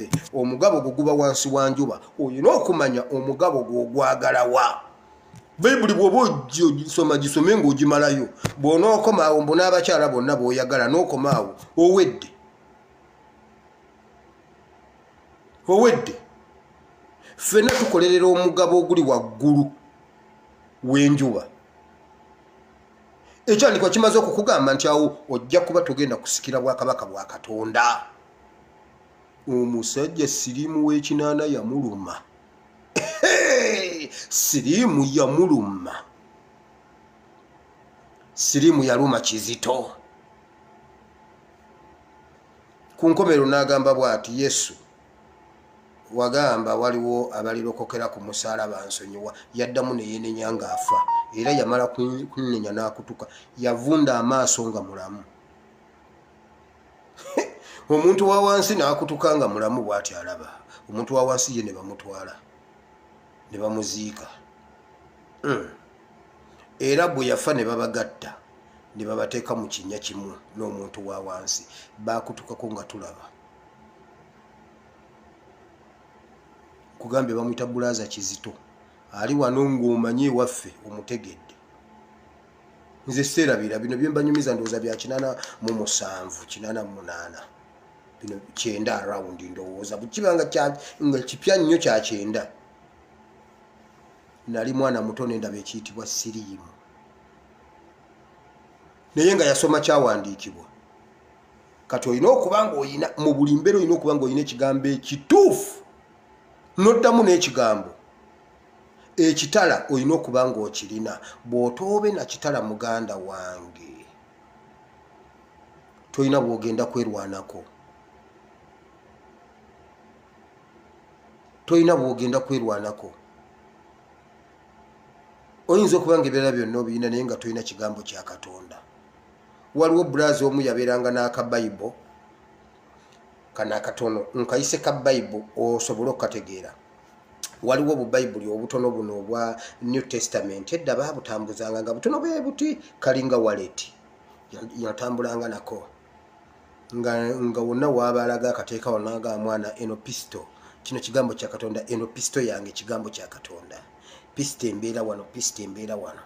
nze omugabo gwo guba wansi wa njuba olina okumanya omugabo gwogwagalawa bayibuli bwoba ogisoma gisome ngaogimalayo bwonaokomaawo mbu n'abakyala bonna booyagala n'okomaawo owedde owedde ffena tukolerera omugabo oguli waggulu w'enjuba ekyandikwa kimaze okukugamba nti awo ojja kuba togenda kusikira bwakabaka bwa katonda omusajja siriimu w'ekinaana yamuluma siriimu yamuluma siriimu yaluma kizito ku nkomero n'agamba bw'ati yesu wagamba waliwo abalirokokera ku musaala bansonyiwa yaddamu neyenenya ng'afa era yamala kunenya n'akutuka yavunda amaaso nga mulamu omuntu wa wansi n'akutuka nga mulamu bw'ati alaba omuntu wa wansi ye ne bamutwala ne bamuziika hmm. era bwe yafa ne babagatta ne babateeka mu kinnya kimu n'omuntu wa wansi baakutukako nga tulaba kugambye bamuyita bulaaza kizito ali wano ng'omanyi ewaffe omutegedde nze seerabira bino byembanyumiza ndowooza bya kinana mu musanvu kinana mu munaana bino kyenda around ndowooza bukiba nga nga kipya nnyo kya kyenda nali mwana muto nendaba ekiyitibwa siriimu naye nga yasoma kyawandiikibwa kati olina okuba nga olina mu buli mbeera olina okuba nga olina ekigambo ekituufu noddamu n'ekigambo ekitala olina okuba ng'okirina bw'otoobe na kitala muganda wange tolina bwogenda kwerwanako tolina bwogenda kwerwanako oyinza okuba nga ebirala byonna obirina naye nga tolina kigambo kya katonda waliwo bulazi omu yabeeranga n'akabayibo kano akatono nkayise ka bayibo osobole okukategeera waliwo obubayibuli obutono buno obwa new testament edda baabutambuzanga nga butono bwe buti kalinga waleti yatambulanga nako nga, nga wonna waabaalaga akateeka wanaga mwana eno pisto kino kigambo kya katonda eno pisto yange kigambo kya katonda pisto embeera wano pisto embeera wano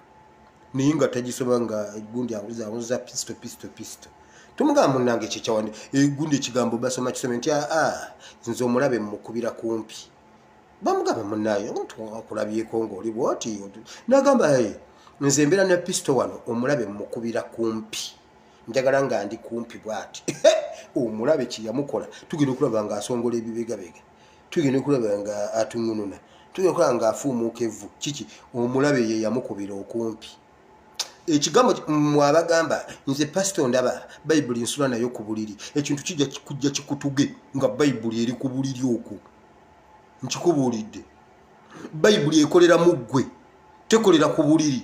naye nga tagisoma nga gundi awuzaawuza pisto pisto pisto tumugamba munange kyekyawandi egundi ekigambo basoma kisome nti aa ah, ah, nze omulabe mukubira kumpi bamugamba munaye okulabyeko ngaoli bwoti nagamba nze mbeera ne pisto wano omulabe mukubira kumpi njagala nga ndi kumpi bwati omulabe kyeyamukola tugenda okulaba nga asongola ebibegabega tugenda okulaba nga atunununa tugenda okulaba nga afuumuuka evvu kiki omulabe ye yamukubira okumpi ekigambo mwabagamba nze pasito ndaba bayibuli nsula nayo ku buliri ekintu kijja kujja kikutuge nga bayibuli eri ku buliri okwo nkikubuulidde bayibuli ekolera mu ggwe tekolera ku buliri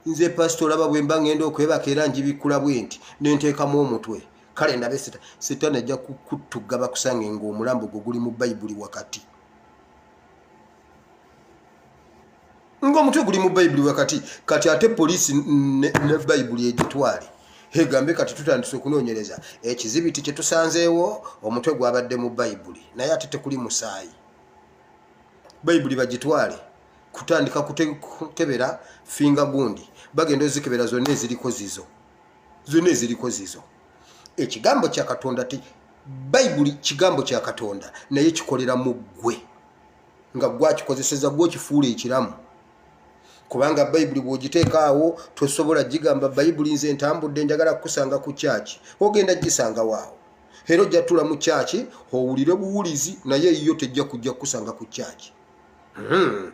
nze pasito olaba bwe mba ngenda okwebaka era njibikkula bwe nti nenteekamu omutwe kale ndabe sita sitaani ajja kukutugga bakusange ng'omulambo gwo guli mu bayibuli wakati ng'omutwe guli mu bayibuli wakati kati ate poliisi ne bayibuli egitwale egambe kati tutandise okunoonyereza ekizibiti kye tusanzeewo omutwe gwabadde mu bayibuli naye ate tekuli musaayi bayibuli bagitwale kutandika kukebera finga gundi bagenda ozikebera zonna eziriko zizo zonna eziriko zizo ekigambo kya katonda ti bayibuli kigambo kya katonda naye kikolera mu ggwe nga gwakikozeseza gwokifuula ekiramu kubanga bayibuli bwogiteekaawo tosobola gigamba bayibuli nze ntambudde njagala kukusanga ku kyaki ogenda gisangawoawo era ojja tula mu kyaki owulire buwulizi naye eyiyo tejja kujja kukusanga ku kyaki Hmm.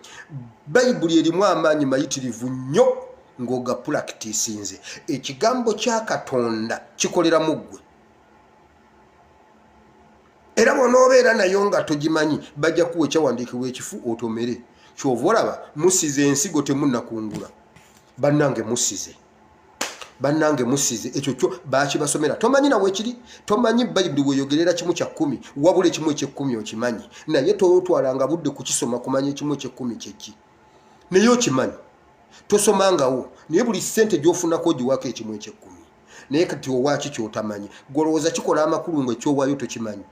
bayibuli erimu amaanyi mayitirivu nnyo ng'ogapulakitisinze ekigambo kya katonda kikolera mu ggwe era bwonoobeera nayo nga togimanyi bajja kuwa ekyawandiikibwa ekifu otomere kyova olaba musize ensigo temunakungula bannange musize bannange musize ekyo kyo bakibasomera tomanyi nawe kiri tomanyi bayibuli weyogerera kimu kya kkumi wabula ekimu ekyekkumi okimanyi naye totwalanga budde kukisoma kumanya ekimu ekyekkumi kyeki naye okimanyi tosomangawo naye buli sente gyofunako ogiwako ekimu ekyekkumi naye kati owaki kyotamanyi gwolowooza kikola amakulu nga ekyowayo tokimanyi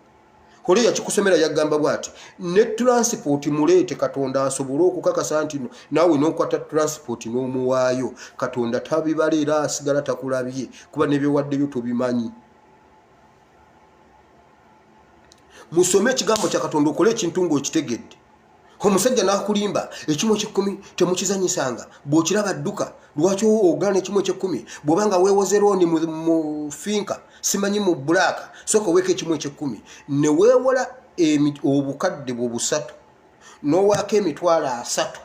oli yakikusomera yagamba bwati ne transport muleete katonda asobole okukakasa nti naawe nokwata transport n'omuwaayo katonda tabibala era asigala takulabye kuba nebyewaddeyo tobimanyi musome ekigambo kya katonda okole ekintu ngaokitegedde omusajja n'akulimba ekimu ekyekumi temukizanyisanga bw'okiraba dduka lwaki ogana ekimu ekyekumi bw'oba nga weewoze looni mu finka simanyi mu bulaaka sooka oweeka ekimu ekyekumi ne weewola obukadde bwo busatu n'owaako emitwalo asatu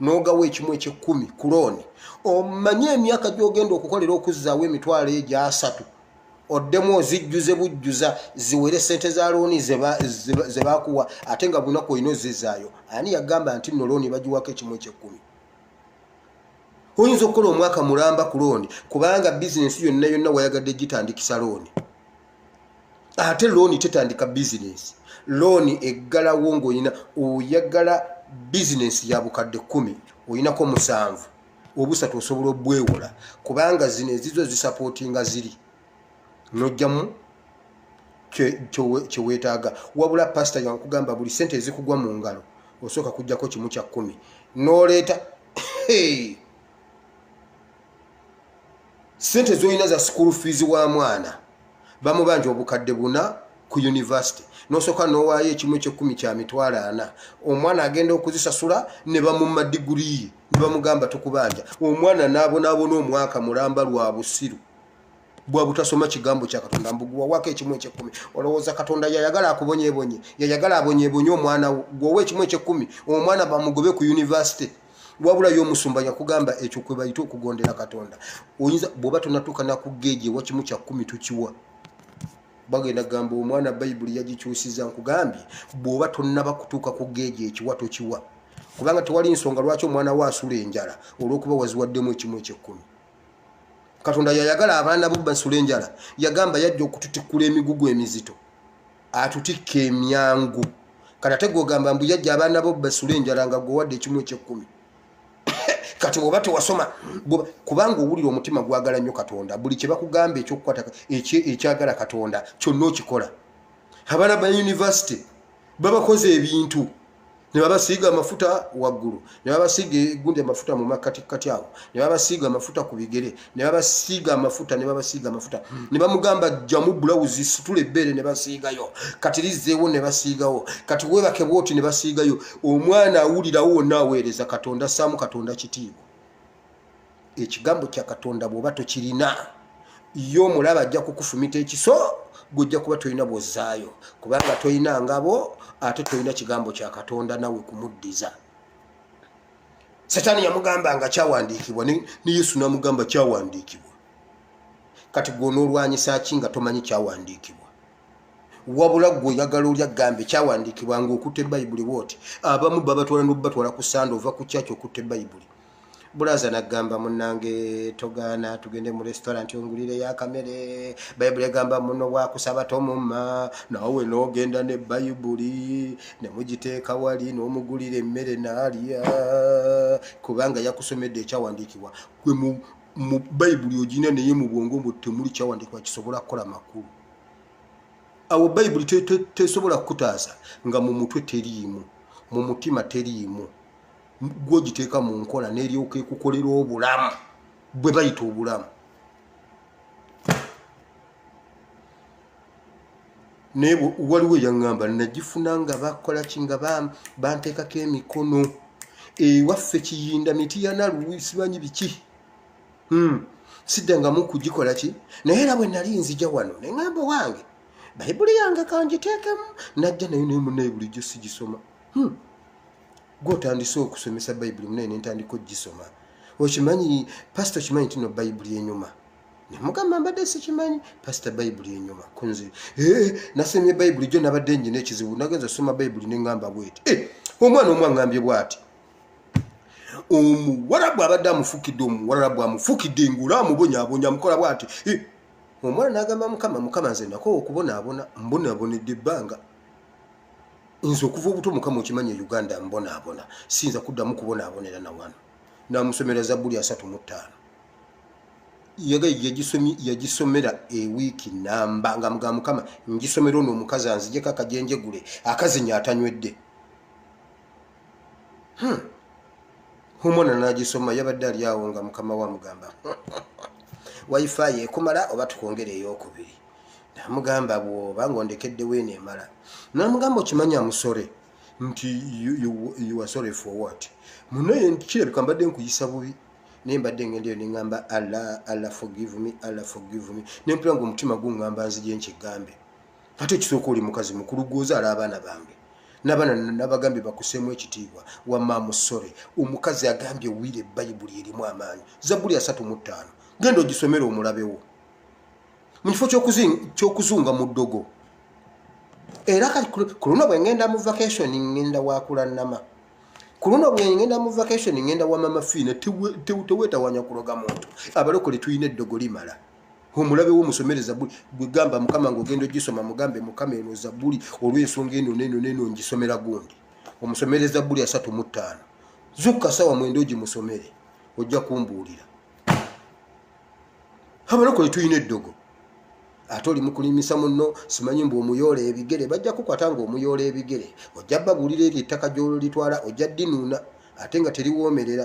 n'ogawa ekimu ekyekumi ku looni omanye emyaka gy'ogenda okukolera okuzzaawo emitwalo egyo asatu oddemu ozijjuze bujjuza ziwere sente za looni ze bakuwa ate nga bunaku olina ozizaayo ani yagamba nti no looni bagiwako ekimu ekyekkumi oyinza okukola omwaka mulamba ku looni kubanga bizinensi yonna yonna wayagadde gitandikisa looni ate looni tetandika bizinensi looni eggalawo ngaolina oyagala bizinensi ya bukadde kumi olinako musanvu obusatu osobola obwewola kubanga zino ezizo zisapootinga ziri nojjamu kyewetaaga wabula pasita yankugamba buli sente ezikugwa mu ngalo osooka kujjako kimu kya kkumi noleeta sente zolina za school fees wa mwana bamubanja obukadde buna ku university nosooka nowaayo ekimu ekyekumi kya mitwalo ana omwana agenda okuzisasula ne bamumma diguli ye ne bamugamba tukubanja omwana naabonaabona omwaka mulamba lwa busiru bwa butasoma kigambo kya katonda mbuguwawako ekimu ekyekumi olowooza katonda yayagala akubonyebonye yayagala abonyebonye omwana gwowa ekimu ekyekumi omwana bamugobe ku university wabula yo omusumba yakugamba ekyo kwe bayita okugondera katonda oyinza bwoba tonatuuka nakugeeji ewa kimu kya kumi tukiwa bagenda kugamba omwana bayibuli yagikyusiza nkugambye bwoba tonaba kutuuka ku geeji ekiwa tokiwa kubanga tewali nsonga lwaki omwana wo asula enjala olwokuba waziwaddemu ekimu ekyekkumi katonda yayagala abaana bo basula enjala yagamba yajja okututikkula emigugu emizito atutikka emyangu kati ate gwogamba mbu yajja abaana bo basula enjala nga gwewadde ekimu ekyekkumi kati oba tewasoma kubanga owulira omutima gwagala nnyo katonda buli kyebakugamba ekyokukwata ekyagala katonda kyonna okikola abaana ba univesity babakoze ebintu ne babasiiga amafuta waggulu ne babasiiga egundi amafuta mu makkatikkati awo ne babasiiga amafuta ku bigere ne babasiiga amafuta ne babasiiga amafuta ne bamugamba jjamu bulawuzi situla ebbeere ne basiigayo kati lizzeewo ne basiigawo kati weebake bwoti ne basiigayo omwana awulirawo wonna aweereza katonda ssaamu katonda kitiibwa ekigambo kya katonda bwoba tokirina yo omulaba ajja kukufumita ekiso gwojja kuba tolina bwozaayo kubanga tolina ngabo ate tolina kigambo kya katonda nawe kumuddiza setaani yamugamba nga kyawandiikibwa ne yesu namugamba kyawandiikibwa kati gwonoolwanyisa ki nga tomanyi kyawandiikibwa wabula gwe oyagala olya gambe kyawandiikibwa ngaokutte bayibuli bwoti abamu babatwala nobubatwala ku sande ova ku kyaki okutte bayibuli bulaza nagamba munange togaana tugende mu restaurant ongulire yakamere bayibuli egamba muno wakusaba tomumma nawe nogenda ne bayibuli nemugiteeka wali nomugulira emmere naalya kubanga yakusomedde ekyawandiikibwa gwe mu bayibuli ogina naye mu bwongo mbu temuli kyawandiikibwa kisobola kukola makulu awo bayibuli tesobola kukutaasa nga mu mutwe teriimu mu mutima teriimu gwogiteeka mu nkola neryoka ekukolera obulamu bwe bayita obulamu naye waliwo eyaŋŋamba nagifuna nga bakola ki nga banteekako emikono ewaffe kiyinda miti yanaluwi simanyi biki hmm. siddangamu kugikola ki naye era bwe nali nzija wano ne ŋŋamba wange bayibuli yange kangiteekemu najja naye naye munaye bulijjo sigisoma hmm. gwe otandise okusomesa bayibuli munaye nentandika ogisoma okimanyi pasita okimanyi ntino bayibuli enyuma nemugamba mbadde sikimanyi pasita bayibuli enyuma kunzi eh, nasomye bayibuli jo nabadde nyina ekizibu nagenza osoma bayibuli nengamba bweti eh, omwana omu angambye bwati omuwarabu abadde amufukidde omuwarabu amufukidde ngula amubonyabonya amukola bwati eh, omwana nagamba mukama mukama nze nakowa okubonaabona mbonabonedde ebbanga nze okuva obuto mukama okimanya e uganda mbonaabona siyinza kuddamu kubonaabonera na wano namusomera zabbuli asatu mu ttaano yagisomera ewiiki namba nga mga mukama ngisomera ono omukazi anzijeko akajenjegule akazinya atanywedde hmm. omwana nagisoma yabadde ali awo nga mukama we amugamba wifi ekumala oba tukwongere eyokubiri namugamba bwoba nga ondekeddewo eno emala namugamba okimanyi amusore nti uasore for what munaye kirabika mbadde nkuyisa bubi naye mbadde ngenda eyo neŋamba alla alla forgive me alla forgive me nempula nga omutima guŋamba nzije nkigambe ate ekisooka oli mukazi mukulu gwozaala abaana bange nabaana nabagambye bakuseemu ekitiibwa wamaamusore omukazi agambye wire bayibuli erimu amaanyi zabbuli asatu mu ttaano genda ogisomere omulabewo mu kifo kyokuzunga mu ddogo era kati ku luno bwe ngenda mu vacation ngenda wakula nama ku luno bwe ngenda mu vacation ngenda wa mama fiina teweetawanya kuloga muntu abalokole tulina eddogo limala omulabe wo musomere zabuli gwe gamba mukama ng'ogenda ogisoma mugambe mukama eno zabuli olw'ensonga eno neno neno ngisomera gundi omusomere zabuli asatu mu ttaano zukka sawa mwenda ogimusomere ojja kumbuulira abalokole tulina eddogo ate oli mukulimisa muno simanyi mbu omuyoola ebigere bajja kukwata nga omuyoola ebigere ojja babuulira eryo ettaka gyololitwala ojja dinuuna ate nga teliwoomerera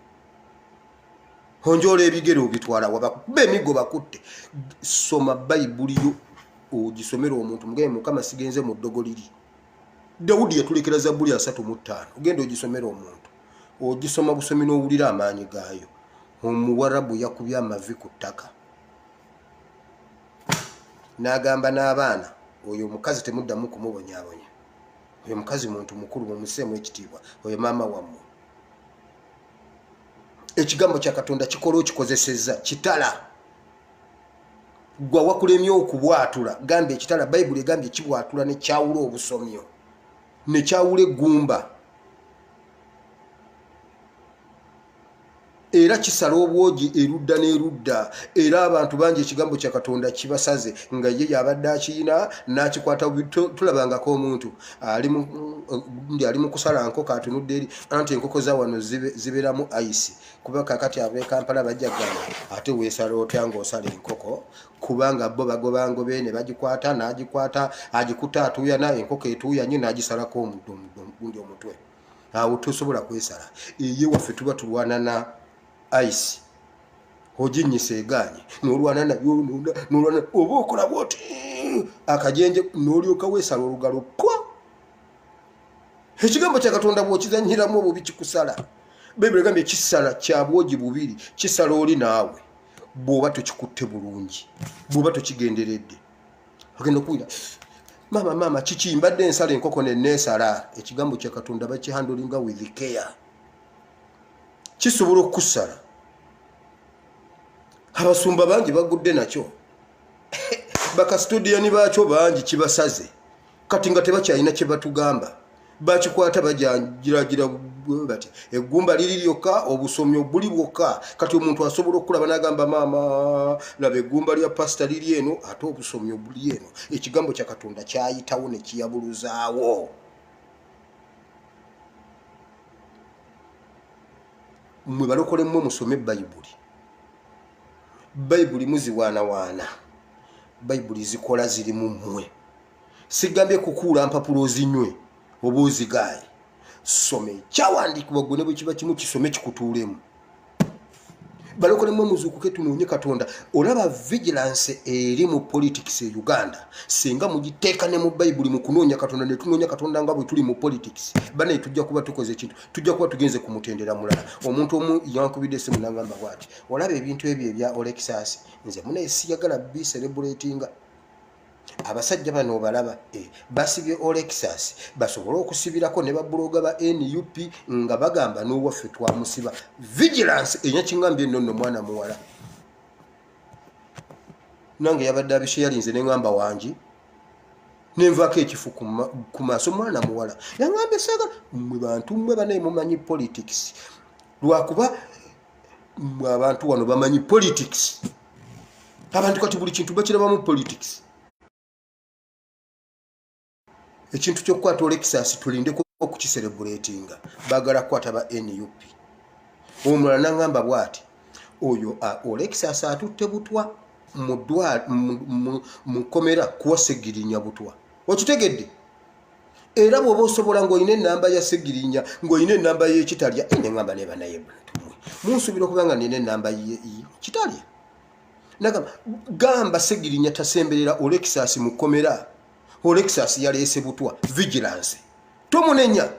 onjoola ebigere obitwala wabakuba emigo bakutte soma bayibuli yo ogisomera omuntu mugaye mukama sigenze mu ddogo liri dawudi yatulekera zabbuli asatu mu ttaano ogenda ogisomera omuntu ogisoma busomi n'owulira amaanyi gaayo omuwarabu yakubye amavi ku ttaka n'agamba n'abaana oyo omukazi temuddamu kumubonyabonya oyo mukazi muntu mukulu mumuseemu ekitiibwa oyo maama wammwe ekigambo kya katonda kikola okikozesezza kitala gwa wakulemye okubwatula gamba ekitala bayibuli egambye kibwatula nekyawula obusomyo nekyawula eggumba era kisala obwogi erudda n'erudda era abantu bangi ekigambo kya katonda kibasaze nga ye yabadde akiyina n'akikwata tulabangako omuntu ali mu ndi ali mu kusala nkoko atunudde eri anti enkoko za wano zibeeramu ice kuba kakati ab'e kampala bajja gana ate weesala otya ng'osala enkoko kubanga bo bagobangobe ne bagikwata n'agikwata agikuta atuuyana enkoko etuuya nyo n'agisalako omuddo omuddo gundi omutwe awo tosobola kwesala eye waffe tuba tulwanana ice oginyisa eganye nolwana nayo nonda nolwana oba okola bwoti akajenje nolyoka wesala olugalo kwa ekigambo kya katonda bwokizanyiramu obubi kikusala bayibuli egambye kisala kyabwogi bubiri kisala oli naawe bwoba tokikutte bulungi bwoba tokigenderedde agenda okuwira maama maama kiki mbadde ensala enkoko neneesala ekigambo kya katonda bakihandolinga with care kisobola okukusala abasumba bangi bagudde nakyo bakasitudiyani baakyo bangi kibasaze kati nga tebakyalina kyebatugamba bakikwata bajangiragira bati eggumba liri lyokka obusomi obuli bwokka kati omuntu asobola okulaba nagamba maama laba eggumba lya pasita liri eno ate obusomi obuli eno ekigambo kya katonda kyayitawo nekiyabuluzaawo mwe balokole mmwe musome bayibuli bayibuli muziwaanawaana bayibuli zikola ziri mu mmwe sigambye kukuula mpapula ozinywe oba ozigaaye some kyawandiikibwa gwe ne bwe kiba kimu kisome kikutuulemu balokole mwe muzuukuke tunoonye katonda olaba vigilance eri mu politics e uganda singa mugiteeka ne mu bayibuli mu kunoonya katonda ne tunoonya katonda nga bwe tuli mu politics banaye tujja kuba tukoze ekintu tujja kuba tugenze ku mutendera mulala omuntu omu yankubidde esimu nangamba bwati olaba ebintu ebyo ebya olexas nze munaye siyagala biserebulatinga abasajja bano obalaba eh, basibye olexas basobole okusibirako ne babuloga ba nup nga bagamba n'owaffe twamusiba vigilance enyakingambye nno nno mwana muwala nange yabadde abishe yalinze neŋamba wangi nenvako ekifu ku maaso mwana muwala yangambye saga mwe bantu mwe banaye mumanyi politics lwakuba mwe abantu wano bamanyi politics abantu kati buli kintu bakirabamu politics ekintu kyokukwata olekisasi tulindeko okukiserebuletinga bagala kukwata ba nup omulala nangamba bwati oyo olekisasi atutte butwa mudwa mukomera kuwasegirinya butwa okitegedde era bwoba osobola ngaolina enamba ya segirinya ngaolina enamba yekitalya eh, neamba neba naye bantumwe munsubira okuba nga nina enamba kitalya nagamba gamba segirinya tasemberera olexas mukomera olexas yaleese butwa vigilance tomunenya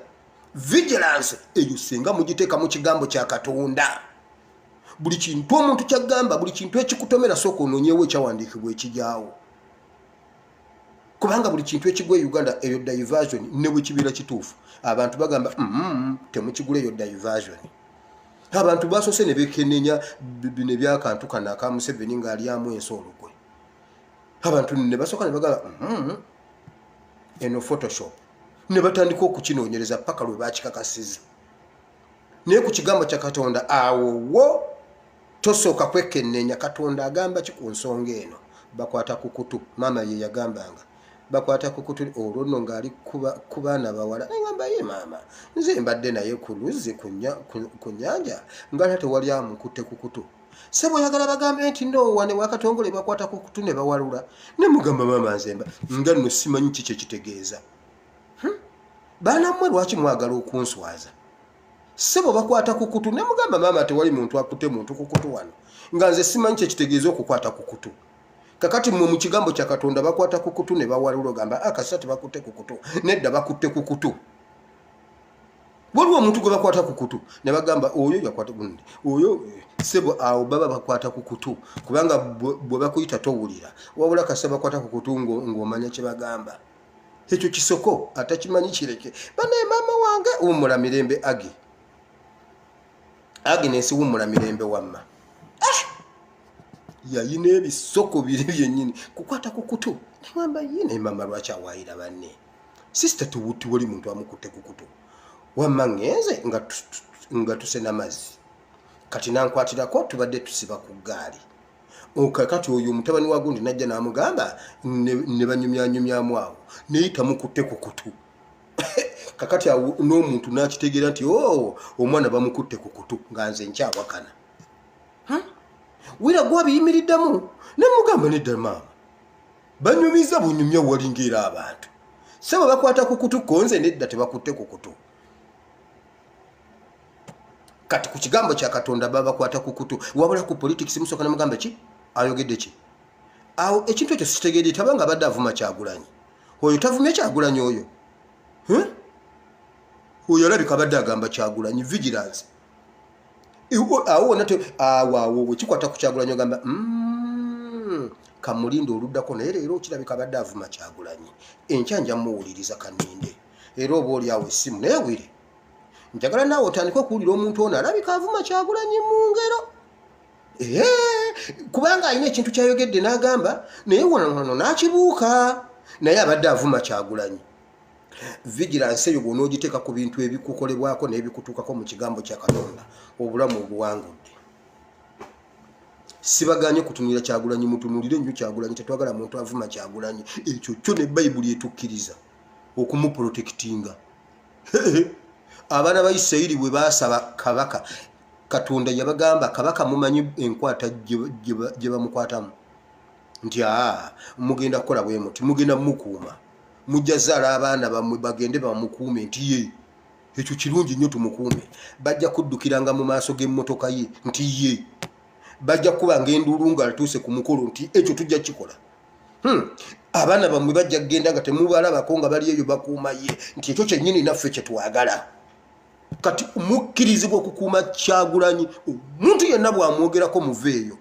vigilance eyo singa mugiteeka mu kigambo kya katonda buli kintu omuntu kyagamba buli kintu ekikutomera sooka ononyewo ekyawandiikibwa ekijaawo kubanga buli kintu ekigwa e uganda eyo diversion ne bwe kibeera kituufu abantu bagamba mm, mm, mm, temukigula eyo diversion abantu basoose ne bekenenya bino ebyakantu kano aka museveni ng'alyamu ensi olukwe abantu ne basooka ne bagamba eno photoshop ne batandika okukinoonyereza paka lwe bakikakasiza naye ku kigambo kya katonda awo wo tosooka kwekennenya katonda agamba ki ku nsonga eno bakwata ku kutu maama ye yagambanga bakwata ku kutu olwo nno ng'ali ku baana bawala nagamba ye maama nze mbadde naye ku luzzi ku nyanja ngala tewali amukutte ku kutu sebo oyagala bagambe nti noowane wakatongole bakwata ku kutu ne bawalula ne mugamba maama nzemba nga nno simanyi ki kyekitegeeza hmm? baana mmwe lwaki mwagala okunswaza sebo bakwata ku kutu ne mugamba maama tewali muntu akute muntu ku kutu wano nga nze simanyi kyekitegeeza okukwata ku kutu kakati mmwe mu kigambo kya katonda bakwata ku kutu ne bawalula ogamba akasisa ah, tebakutte ku kutu nedda bakutte ku kutu waliwo omuntu gwe bakwata ku kutu ne bagamba oyo yakwata gundi oyo eh, sebo awo baba bakwata ku kutu kubanga bwe bakuyita towulira wabula kasita bakwata ku kutu ng'omanya kye bagamba ekyo kisoko atakimanyi kireke banaye maama wange wumula mirembe agi aginesi wumula mirembe wamma eh! yayina ebisoko biri byenyini kukwata ku kutu newamba ye naye maama lwaki awaayira banne sisita tiwali muntu amukutte ku kutu wamma ngenze nga tuse namazzi kati nankwatirako tubadde tusiba ku ggaali kakati oyo mutabani wa gundi najja n'amugamba ne banyumyanyumyamu awo naye tamukutte ku kutu kakati awo n'omuntu n'akitegeera nti o oh, omwana bamukutte ku kutu nga nze nkyawakana wira gwabiyimiriddemu nemugamba nedda maama banyumiza bunyumya walinga era abantu sebo bakwata ku kutu konze nedda tebakutte ku kutu kati ku kigambo kya katonda babakwata ku kutu wabula ku politics musooka ne mugamba ki ayogedde ki awo ekintu ekyo sitegedde taba nga abadde avuma kyagulanyi oyo tavumye kyagulanyi oyo oyo alabika abadde agamba kyagulanyi vigilance awo wona awawo wekikwata ku kyagulanyi ogamba mm, kamulinda oluddako naye leero okirabika abadde avuma kyagulanyi enkya nja muwuliriza kaninde era oba oli awo essimu naye wire njagala naawe otandike okuwulira omuntu ono alabika avuma kyagulanyi mu ngero kubanga alina ekintu kyayogedde n'agamba naye wanono n'akibuuka naye abadde avuma kyagulanyi vigilansi eyo bwona ogiteeka ku bintu ebikukolebwako n'ebikutuukako mu kigambo kya katonda obulamu obuwangudde sibaganye kutunulira kyagulanyi mutunulire nnyo kyagulanyi tetwagala muntu avuma kyagulanyi ekyo kyo ne bayibuli etukkiriza okumuprotekitinga abaana ba isirayiri bwe baasaba kabaka katonda yabagamba kabaka mumanyi enkwata gye bamukwatamu nti aa mugenda kukola bwe muti mugenda mukuuma mujja zaala abaana bamwe bagende bamukuume nti ye ekyo kirungi nnyo tumukuume bajja kuddukiranga mu maaso g'emmotoka ye nti ye bajja kuba ngaenduulu ng'alituuse ku mukolo nti ekyo tujja kikola Hmm. abaana bamwe bajja kugenda nga temubalabako nga bali eyo bakuuma ye nti ekyo kyennyini naffe kyetwagala kati mukkirizibwa okukuuma kyagulanyi omuntu yenna bwamwogerako muva eyo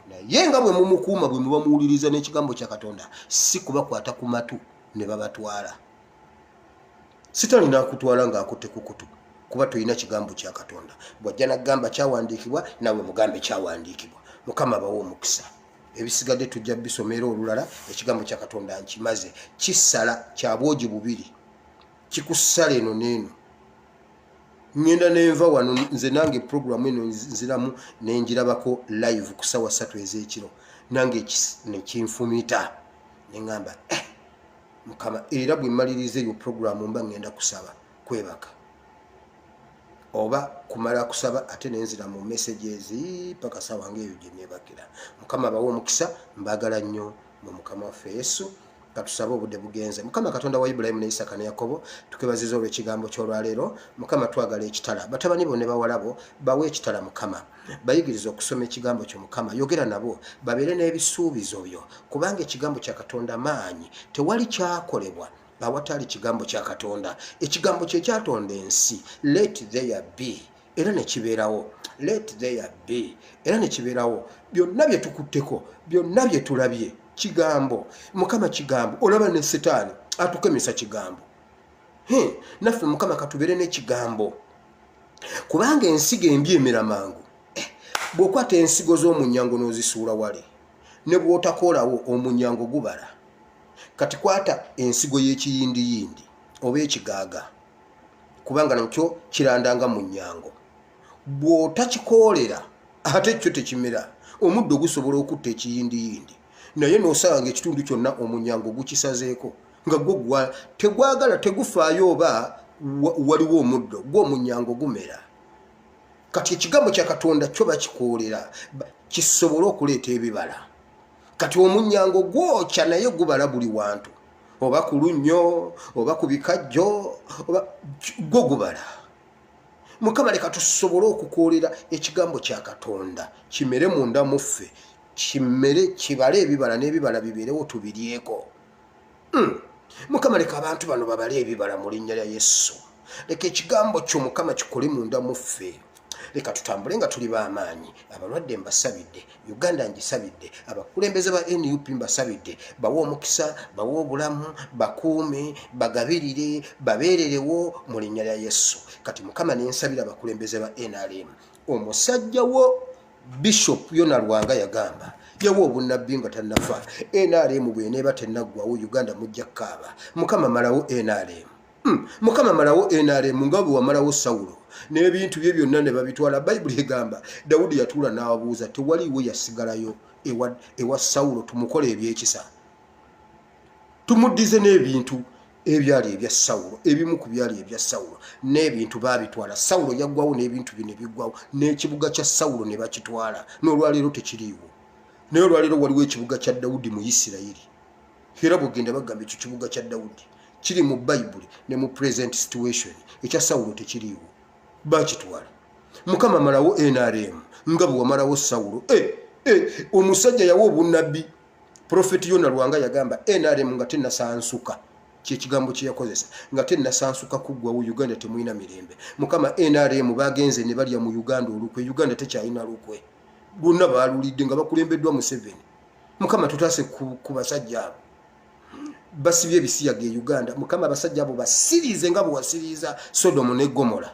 naye nga bwe mumukuuma bwe muba muwuliriza n'ekigambo kya katonda si kubakwata ku matu ne babatwala sitaani nakutwala ng'akutte kukutu kuba tolina kigambo kya katonda bw'ajja nakugamba kyawandiikibwa nawe mugambe kyawandiikibwa mukama bawa omukisa ebisigadde tujja bisoma era olulala ekigambo kya katonda nkimaze kisala kya bwogi bubiri kikusala eno neeno ngenda nenva wano nze nange programu eno nziramu nenjirabako live ku sawa satu ezekiro nange nekinfumita neŋamba eh, mukama era bwemaliriza eyo programu mba ngenda kusaba kwebaka oba kumala kusaba ate nenzira mu messages paka sawa ngaeyo gyenebakira mukama abawa omukisa mbagala nnyo mu mukama waffe yesu katusabe obudde bugenze mukama katonda wa ibulayimu ne isaka ne yakobo tukwebaziza olwekigambo kyolwaleero mukama twagala ekitala batabani bo ne bawalabo bawe ekitala mukama bayigiriza okusoma ekigambo kyo mukama yogera nabo babeere n'ebisuubizo byo kubanga ekigambo kya katonda maanyi tewali kyakolebwa awatali kigambo kya katonda ekigambo kye kyatonda ensi let there be era nekibeerawo let there be era nekibeerawo byonna bye tukutteko byonna bye tulabye kigambo mukama kigambo olaba ne sitaani atukemesa kigambo naffe mukama katubeere n'ekigambo kubanga ensigo embi emera mangu eh, bw'okwata ensigo z'omunyango n'ozisuula wale ne bw'otakoolawo omunyango gubala kati kwata ensigo y'ekiyindiyindi oba ekigaaga kubanga nakyo kirandanga mu nnyango bw'otakikoolera ate kyo tekimera omuddo gusobola okutta ekiyindiyindi naye n'osanga ngaekitundu kyonna omunyango gukisazeeko nga gwo gwa tegwagala tegufaayo oba waliwo omuddo gwo omunyango gumera kati ekigambo kya katonda kyo bakikoolera kisobole okuleeta ebibala kati omunyango gwokya naye gubala buli wantu oba ku lunnyo oba ku bikajjo oba gwo gubala mukama leka tusobole okukoolera ekigambo kya katonda kimere munda muffe kimere kibale ebibala n'ebibala bibeerewo tubiryeko hmm. mukama leka abantu bano babale ebibala mu linnya lya yesu leka ekigambo kyo mukama kikole munda muffe leka tutambule nga tuli bamaanyi abalwadde mbasabidde uganda ngisabidde abakulembeze ba nup mbasabidde bawe omukisa bawe obulamu bakuume bagabirire babeererewo mu linnya lya yesu kati mukama nensabira abakulembeze ba nrm omusajja wo bishop yona lwanga yagamba yawa obunabbi nga tanafa nrm bweneeba tenaggwawo uganda mujja kukaaba mukama malawo nrm hmm, mukama malawo nrm nga bwe wamalawo sawulo n'ebintu bye byonna ne babitwala bayibuli egamba dawudi yatuula n'ababuuza tewaliiwo yasigalayo ewa, ewa sawulo tumukola ebyekisa tumuddize n'ebintu ebyali ebya sawulo ebimu ku byali ebya sawulo n'ebintu baabitwala sawulo yaggwawo n'ebintu bino ebiggwawo n'ekibuga kya sawulo ne bakitwala n'olwaleero tekiriiwo naye olwaleero waliwo ekibuga kya dawudi mu isirayiri era bwegenda bagamba ekyo kibuga kya dawudi kiri mu bayibuli ne mu present situation ekya sawulo tekiriiwo bakitwala mukama malawo nrm nga bwe wamalawo sawulo eh, eh, omusajja yawa obunnabbi Profeti Yona Lwanga yagamba NRM nga tenasansuka kyekigambo kyeyakozesa nga tenasansuka kuggwawo Uganda temulina mirembe mukama NRM bagenze ne balya mu Uganda olukwe Uganda tekyalina lukwe lwonna baalulidde nga bakulembeddwa Museveni mukama tutaase ku basajja abo basibye ebisiyaga e Uganda mukama abasajja abo basiriize nga bwewasiriiza Sodomu ne Gomora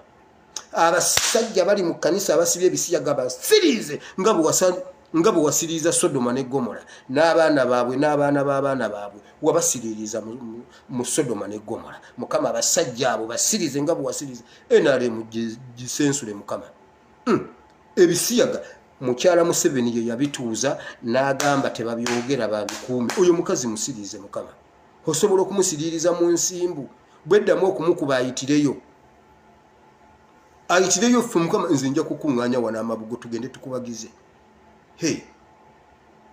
abasajja bali mu kanisa abasibye ebisiyaga basiriize nga bwewasali nga bwe wasiriiza sodoma ne gomora n'abaana baabwe n'abaana b'abaana baabwe wabasiriiriza mu sodoma ne gomora mukama abasajja abo basirize nga bwe wasiriiza nrm gisensule mukama hmm. ebisiyaga mukyala museveni ye yabituuza n'agamba tebabyogera babikuumi oyo mukazi musiriize mukama osobola okumusiriiriza mu nsimbu bweddamu okumukuba ayitireyo ayitireyo ffe mukama nze nja kukuŋŋaanya wano amabugo tugende tukubagize he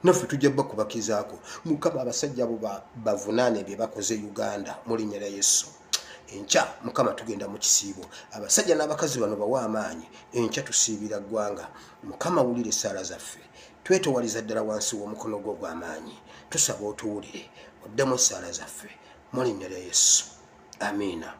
naffe tujja bakubakizaako mukama abasajja abo bavunaane bye bakoze uganda mu linnya lya yesu enkya mukama tugenda mu kisiibo abasajja n'abakazi bano bawa amaanyi enkya tusiibira ggwanga mukama wulira essaala zaffe twetowaliza ddala wansi w'omukono gwo gw'amaanyi tusaba otuwulire oddemu essaala zaffe mulinnya lya yesu amiina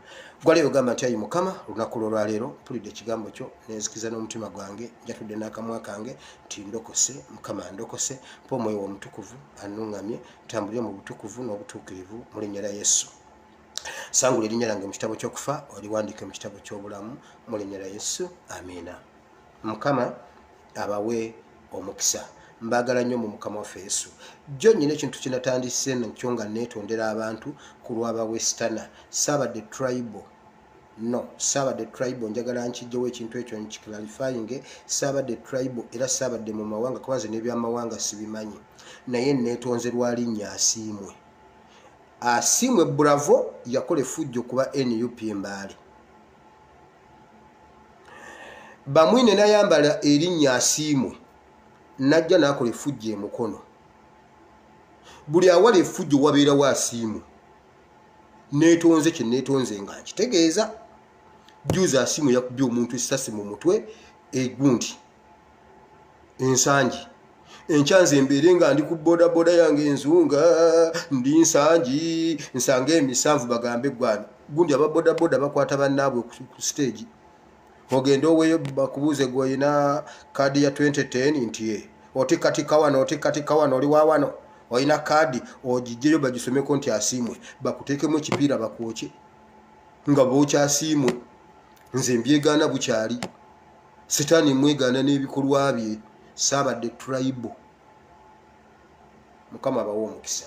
gwaleero gamba nti ayi mukama olunaku lwolwaleero mpulidde ekigambo kyo nenzikiza n'omutima gwange njatudde n'akamwa kange nti ndokose mukama ndokose mpa omwoyo w'omutukuvu anuŋŋamye ntambulire mu butukuvu n'obutuukirivu mulinnya lya yesu sangula erinnya lyange mu kitabo ky'okufa oliwandiike mu kitabo ky'obulamu mulinnya lya yesu amiina mukama abawe omukisa mbagala nnyo mu mukama waffe yesu jjo nyina ekintu kinatandise nakyo nga neetondera abantu ku lwaba westana saabadde tribal no saabadde tribal njagala nkijjewo ekintu ekyo nkiklarifainge saabadde tribal era saabadde mu mawanga kubanze n'ebyamawanga sibimanyi naye neetonze lwalinnya asiimwe asiimwe bravo yakola efujjo kuba nup embaale bamwine nayambala erinnya asiimwe najja nakola efujja emukono buli awala efujjo wabeerawo asiimwe netonze kyenetonze nga nkitegeeza juzi asiimu yakubye omuntu esasi mu mutwe egundi ensangi enkya nze mbeere nga ndi ku bodaboda yange enzunga ndi nsangi nsanga emisanvu bagambe gwani gundi aba bodaboda bakwata bannaabwe ku siteegi ogende oweyo bakubuuze gweolina kaadi ya 2010 nti e otikatika wano otikatika wano oli wa wano olina kaadi ogijjeyo bagisomeko nti asiimwe bakuteekemu ekipiira bakwokye nga bookyasiimwe nze mbyegaana bukyali sitaani mwegaana n'ebikolwa bye saabadde turayibo mukama abawa omukisa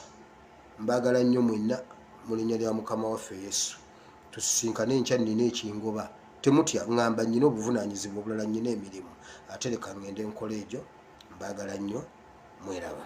mbaagala nnyo mwenna mu linnya lya mukama waffe yesu tusisinkane enkya nnina ekingoba temutya ŋŋamba nnyina obuvunaanyizibwa obulala nnyina emirimu ate leka ŋŋende nkola egyo mbaagala nnyo mweraba